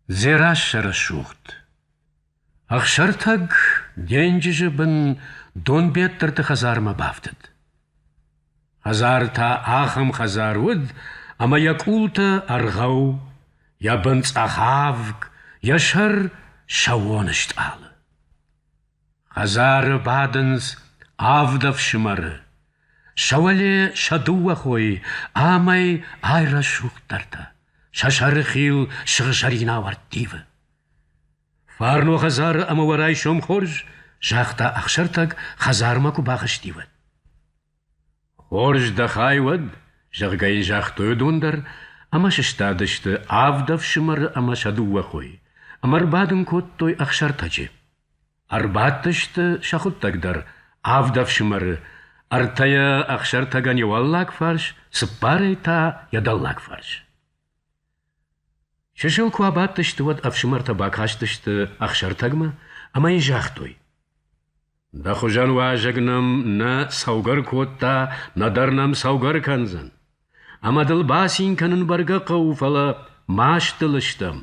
Дзерассӕрӕсугъд. Ӕхсӕртӕг денджызы бын Донбеттырты хӕдзармӕ бафтыд. Хӕдзар та ахӕм хӕдзар уыд, ӕмӕ йӕ къултӕ ӕргъӕу, йӕ бын цъӕхавг, йӕ сӕр сӕуон стъалы. Хӕдзары бадынц авд ӕфсымӕры, сӕ уӕле сӕ дыууӕ хойы ӕмӕ айрӕсугъддӕртӕ, сӕ сӕрыхил сыгъзӕрин ӕвӕрд ивы. Фарно хӕдзары ӕмӕ уӕ райсом хорз, загъта Ӕхсӕртӕг, хӕдзармӕ куы бахызти, уӕд. Хорз дӕ хай уӕд, зӕгъгӕ йын загътой уыдон дӕр ӕмӕ сыстадысты авд ӕфсымӕры ӕмӕ сӕ дыууӕ хойы ӕмӕ ӕрбадын кодтой Ӕхсӕртӕджы. Ӕрбадтысты сӕ хуыддӕг дӕр авд ӕфсымӕры, ӕртӕ йӕ Ӕхсӕртӕгӕн йӕ уӕллаг фарс, цыппарӕй та йӕ дӕллаг фарс. Чысыл куы абадтысты, уӕд ӕфсымӕртӕ бакастысты Ӕхсӕртӕгмӕ ӕмӕ йын загътой: «Дӕ хуызӕн уазӕг нӕм нӕ сӕугӕр кодта, нӕдӕр нӕм сӕугӕр кӕндзӕн. Ӕмӕ дыл бацин кӕнын бӕргӕ хъӕуы, фӕлӕ маст дыл стӕм».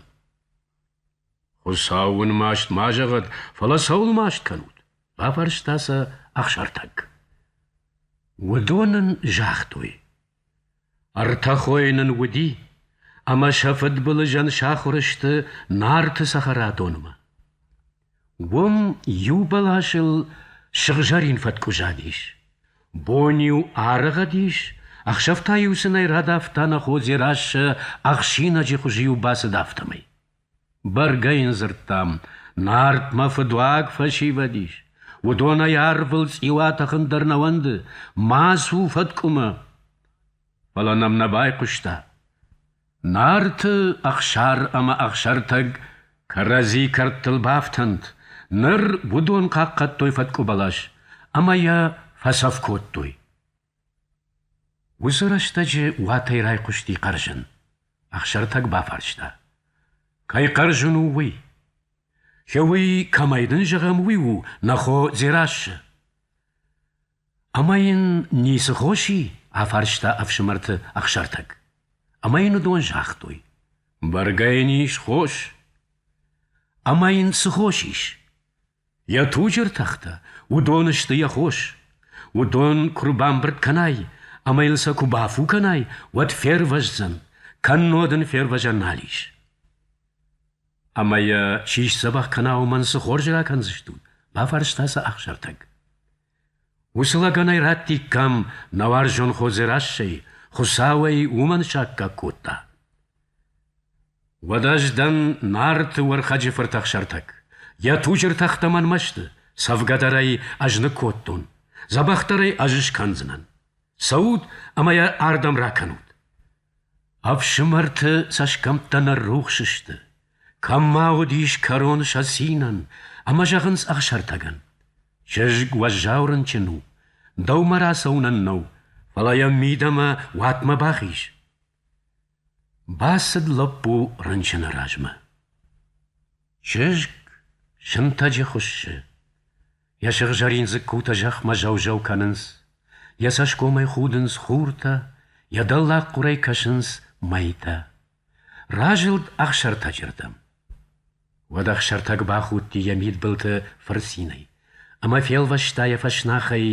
«Хуыцау уын маст ма зӕгъӕд, фӕлӕ цӕуыл маст кӕнут?» – бафарста сӕ Ӕхсӕртӕг. Уыдон ын загътой: Ӕртӕхойы нын уыди, ӕмӕ сӕ фыдбылызӕн сахуыр сты Нарты цӕхӕрадонмӕ. Уым иу бӕласыл сыгъзӕрин фӕткъуызадис. Бон-иу арӕгъӕдис, ӕхсӕв та-иу сын ӕй радавта нӕ хо Дзерассӕ ӕхсинӕджы хуызы-иу бацыд афтӕмӕй. Бӕргӕ йын дзырдтам, Нартмӕ фыдуаг фӕсивӕд ис, уыдонӕй арвыл цъиу атӕхын дӕр нӕ уӕнды, ма цу фӕткъуымӕ. Фӕлӕ нӕм нӕ байхъуыста. Нарты Ӕхсар ӕмӕ Ӕхсӕртӕг кӕрӕдзи кӕрдтыл бафтӕнт, ныр уыдон хъахъхъӕдтой фӕткъуыбӕлас ӕмӕ йӕ фӕцӕф кодтой. Уыцы рӕстӕджы уатӕй райхъуысти хъӕрзын. Ӕхсӕртӕг бафарста. Кӕй хъӕрзын у уый? Чи уый, кӕмӕй дын зӕгъӕм, уый у, нӕ хо Дзерассӕ. Ӕмӕ йын ницы хос и? афарста ӕфсымӕрты Ӕхсӕртӕг. Ӕмӕ йын уыдон загътой. Бӕргӕ йын ис хос. Ӕмӕ йын цы хос ис? Йӕ туджы ртӕхтӕ, уыдон сты йӕ хос. Уыдон куы рбамбырд кӕнай ӕмӕ йын сӕ куы бафу кӕнай, уӕд фервӕздзӕн, кӕннод ын фервӕзӕн нал ис. Ӕмӕ йӕ чи сдзӕбӕх кӕна, уымӕн цы хорз ракӕндзыстут? бафарста сӕ Ӕхсӕртӕг. Уыцы лӕгӕнӕй раттиккам нӕ уарзон Хозерӕссӕй, Хуыцау ӕй уымӕн саккаг кодта. Уӕд ӕз дӕн Нарты Уӕрхӕджы фырт Ӕхсӕртӕг. Йӕ туджы ртӕхтӕ мӕнмӕ сты, цӕвгӕдӕрӕй ӕз ныккодтон, дзӕбӕхдӕрӕй ӕз скӕндзынӕн. Цӕут ӕмӕ йӕ ардӕм ракӕнут. Ӕфсымӕрты цӕсгӕмттӕ ныррухс сты. Кӕм ма уыдис кӕрон сӕ цинӕн, ӕмӕ зӕгъынц Ӕхсӕртӕгӕн: «Чызг уӕззау рынчын у, дӕумӕ рацӕуынӕн нӕу, фӕлӕ йӕ мидӕмӕ уатмӕ бахиз». Бацыд лӕппу рынчыны размӕ. Чызг сынтӕджы хуыссы. Йӕ сыгъзӕрин дзыккутӕ зӕхмӕ зӕу-зӕу кӕнынц, йӕ цӕсгомӕй худынц хуртӕ, йӕ дӕллаг хъуырӕй кӕсынц мӕйтӕ. Разылд Ӕхсӕртӕджырдӕм. Уӕд Ӕхсӕртӕг бахудти йӕ мидбылты фырцинӕй ӕмӕ фелвӕста йӕ фӕснахӕй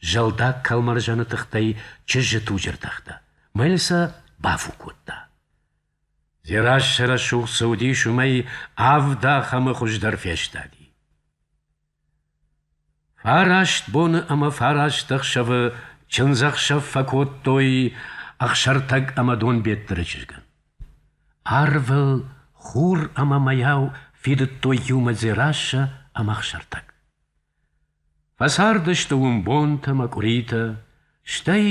зӕлдаг кӕлмӕрзӕны тыхтӕй чызджы туджы ртӕхтӕ, мӕйыл сӕ бафу кодта. Дзерассӕ рӕсугъд цы уыдис, уымӕй авд ахӕмы хуыздӕр фестади. Фараст боны ӕмӕ фараст ӕхсӕвы чындзӕхсӕв фӕкодтой Ӕхсӕртӕг ӕмӕ Донбеттыры чызгӕн. Арвыл хур ӕмӕ мӕйау фидыдтой иумӕ Дзерассӕ ӕмӕ Ӕхсӕртӕг. Фӕцардысты уым бонтӕ ӕмӕ къуыритӕ, стӕй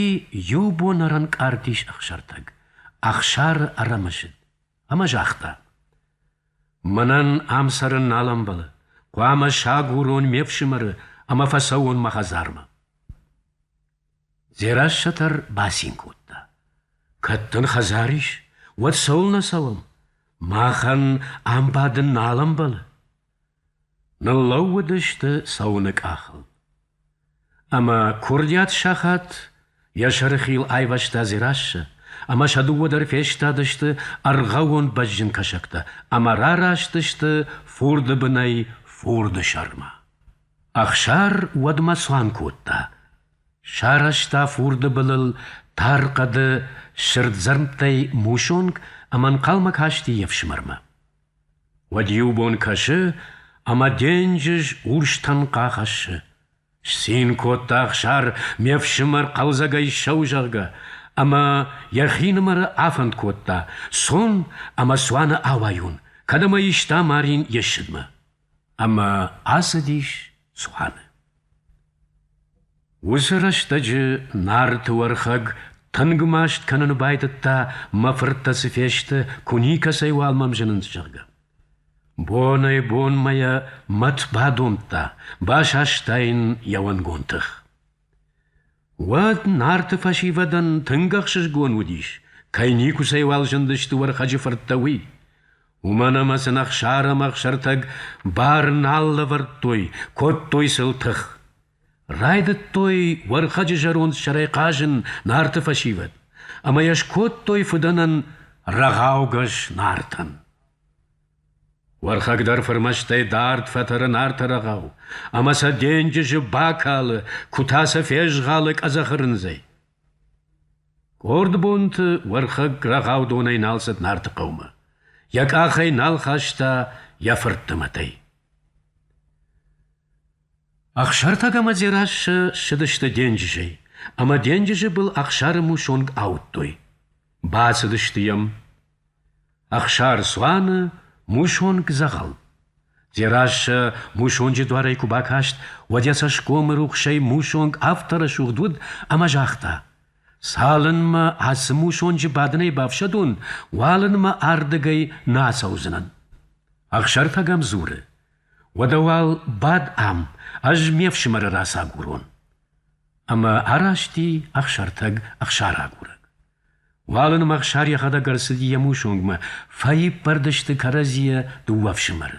иу бон ӕрӕнкъард ис Ӕхсӕртӕг, Ӕхсары ӕрӕмысыд, ӕмӕ загъта: Мӕнӕн ам цӕрын нал ӕмбӕлы. Хъуамӕ сагурон ме фсымӕры ӕмӕ фӕцӕуон мӕ хӕдзармӕ. Дзерассӕтӕр бацин кодта. Кӕд дын хӕдзар ис, уӕд цӕуылнӕ цӕуӕм? Махӕн ам бадын нал ӕмбӕлы. Ныллӕууыдысты цӕуыны къахыл. Ӕмӕ курдиат сахат йӕ сӕрыхил айвӕзта Дзерассӕ, ӕмӕ сӕ дыууӕ дӕр фестадысты ӕргъӕвон бӕзджын кӕсӕгтӕ ӕмӕ рараст фурды бынӕй фурды сӕрмӕ. Ӕхсар уӕдмӕ цуан кодта. Сарӕзта фурды былыл тар хъӕды сырддзӕрмттӕй мусонг ӕмӕ ӕнхъӕлмӕ касти йе фсымӕрмӕ. Уӕд иу бон кӕсы, ӕмӕ денджыз урстӕн къахӕссы. Сцин кодта Ӕхсар ме фсымӕр хъӕлдзӕгӕй сӕу, зӕгъгӕ, ӕмӕ йӕхинымӕры афӕнд кодта, цон ӕмӕ цуаны ауайон, кӕд ӕмӕ иста марин йе ссыдмӕ. ӕмӕ ацыдис цуаны. Уыцы рӕстӕджы Нарты Уӕрхӕг тынг маст кӕнын байдыдта, мӕ фырттӕ цы фесты, куы никӕцӕй уал мӕм зынынц, зӕгъгӕ. Бонӕй-бонмӕ йӕ мӕт бадомдта, басаста йын йӕ уӕнгон тых. Уӕд Нарты фӕсивӕдӕн тынг ӕхсызгон уыдис, кӕй никуыцӕйуал зындысты Уӕрхӕджы фырттӕ, уый. Уымӕн ӕмӕ сын Ӕхсар ӕмӕ Ӕхсӕртӕг бар нал лӕвӕрдтой, кодтой сыл тых. Райдыдтой Уӕрхӕджы зӕронд сӕрӕй хъазын Нарты фӕсивӕд, ӕмӕ йӕ скодтой фыдӕнӕн рӕгъаугӕс Нартӕн. Уӕрхӕг дӕр фырмӕстӕй дард фӕтӕры Нарты рӕгъау, ӕмӕ сӕ денджызы бакалы, куы та сӕ фезгъалы къӕдзӕхы рындзӕй. Къорд бонты Уӕрхӕг рӕгъаудонӕй нал цыд Нарты хъӕумӕ, йӕ къахӕй нал хаста йӕ фыртты мӕтӕй. Ӕхсӕртӕг ӕмӕ Дзерассӕ ссыдысты денджызӕй, ӕмӕ денджызы был Ӕхсары мусонг ауыдтой. Бацыдысты йӕм. Ӕхсӕрцуаны мусонг дзӕгъӕл. Дзерассӕ мусонджы дуарӕй куы бакаст, уӕд йӕ цӕсгомы рухсӕй мусонг афтӕ рӕсугъд уыд, ӕмӕ загъта: «Цалынмӕ ацы мусонджы бадынӕй бафсӕдон, уалынмӕ ардыгӕй нӕ ацӕудзынӕн». Ӕхсӕртӕг ӕм дзуры: «Уӕдӕ уал бад ам, ӕз ме фсымӕры рацагурон». Ӕмӕ араст и Ӕхсӕртӕг ӕхсарагурӕг. Уалынмӕ Ӕхсар йӕхӕдӕг ӕрцыди йӕ мусонгмӕ, фӕиппӕрд сты кӕрӕдзийӕ дыууӕ ӕфсымӕры.